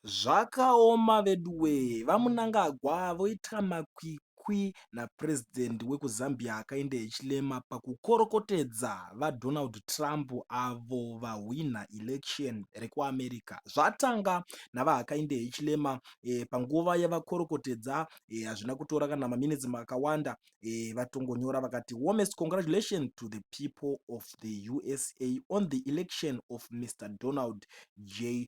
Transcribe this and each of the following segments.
Zvakaoma veduwee VaMnangagwa voita makwikwi naPresident wekuZambia akaenda echirema pakukorokotedza VaDonald Trump avo vahwinha election rekuAmerica. Zvatanga naVaHakainde Hichilema eh, panguva yavakorokotedza eh, hazvina eh, kutora kana maminitsi makawanda eh, vatongonyora vakati warmest congratulations to the people of the USA on the election of Mr Donald J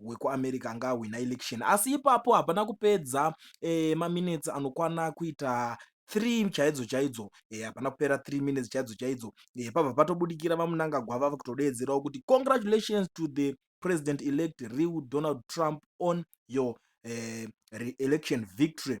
wekuamerica anga ahwina election asi ipapo hapana kupedza e, maminutes anokwana kuita 3 chaidzo chaidzo eh, hapana e, kupera 3 minutes chaidzo chaidzo e, eh, pabva patobudikira vamunangagwa vava kutodeedzerawo kuti congratulations to the president elect real donald trump on your uh, election victory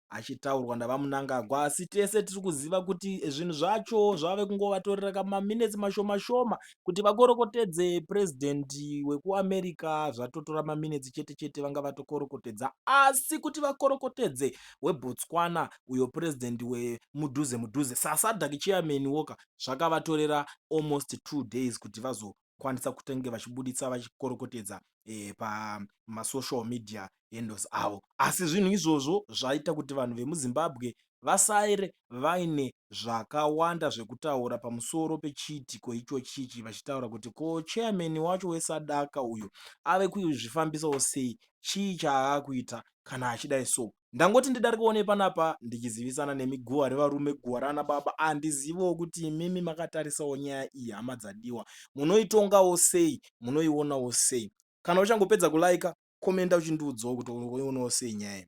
achitaurwa naVaMnangagwa asi tese tiri kuziva kuti zvinhu zvacho zvave kungovatorera kamaminetsi mashoma shoma kuti vakorokotedze president wekuAmerica zvatotora maminetsi chete chete vanga vatokorokotedza asi kuti vakorokotedze weBotswana uyo president wemudhuze mudhuze saSadak chairman woka zvakavatorera almost two days kuti vazo kwanisa kutenge vachibuditsa vachikorokotedza e, pamasocial media handles avo asi zvinhu izvozvo zvaita kuti vanhu vemuzimbabwe vasaire vaine zvakawanda zvekutaura pamusoro pechiitiko ichochichi vachitaura kuti ko chairman wacho wesadaka uyo ave kuzvifambisawo sei chii chaakuita kana achidai so ndangoti ndidarikewo nepanapa ndichizivisana nemi guhwa revarume guhwa raana baba handizivewo ah, kuti imimi makatarisawo nyaya iyi hama dzadiwa munoitongawo sei munoionawo sei kana uchangopedza kulaika komenda uchindiudzawo kuti unoionawo sei nyaya iyi